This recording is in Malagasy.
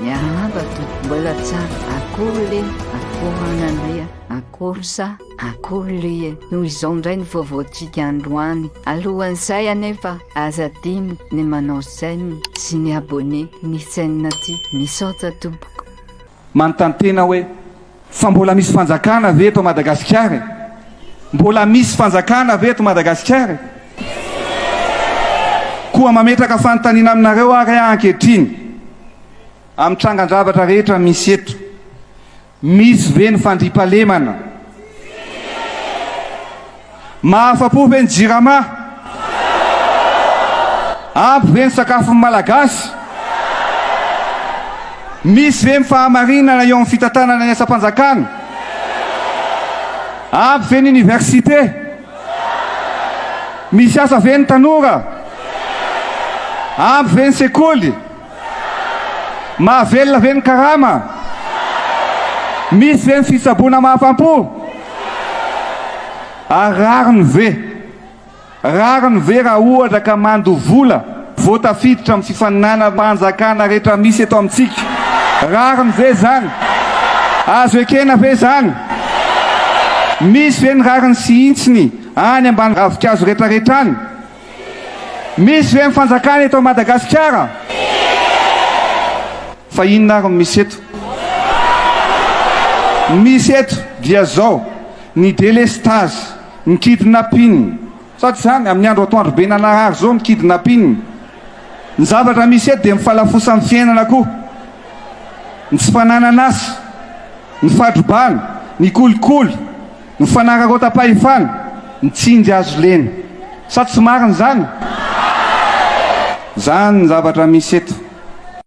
Miarahaba tompoko mbola tsara akory le akory anandria akory sa akory le e noho izao indray ny vaovaontsika androany alohan'izay anefa aza adino ny manao j'aime sy ny abonné ny chaîne ty misaotra tompoko. Manontany tena hoe Fa mbola misy fanjakana ve eto Madagasikara e? Mbola misy fanjakana ve eto Madagasikara e? Koa mametraka fanontaniana aminareo ary aho ankehitriny, amin'ny trangan-javatra rehetra misy eto, misy ve ny fandriampahalemana? Mahafa-po ve ny Jirama? Ampy ve ny sakafon'ny Malagasy? Misy ve ny fahamarinana eo amin'ny fitantanana ny asam-panjakana? Ampy ve ny oniversite? Misy asa ve ny tanora? Ampy ve ny sekoly? Mahavelona ve ny karama? Misy ve ny fitsaboana mahafam-po? Ary rariny ve? Rariny ve raha ohatra ka mandoa vola vao tafiditra amin'ny fifaninanam-panjakana rehetra misy eto amintsika? Rariny ve izany? Azo ekena ve izany? Misy ve ny rariny sy hintsiny any ambany ravinkazo retraretra any? Misy ve ny fanjakana eto Madagasikara? Fa inona ary no misy eto? Ny misy eto dia zao, ny delestazy, ny kidnapping, sa tsy zany? Amin'ny andro atoandro be nanarary zao ny kidnapping. Ny zavatra misy eto dia ny falafosan'ny fiainana koa, ny tsy fananan'asa, ny fadrobana, ny kolikoly. Ny fanararaotam-pahefana, ny tsindry azo lena. Sa tsy marina izany? Izany ny zavatra misy eto.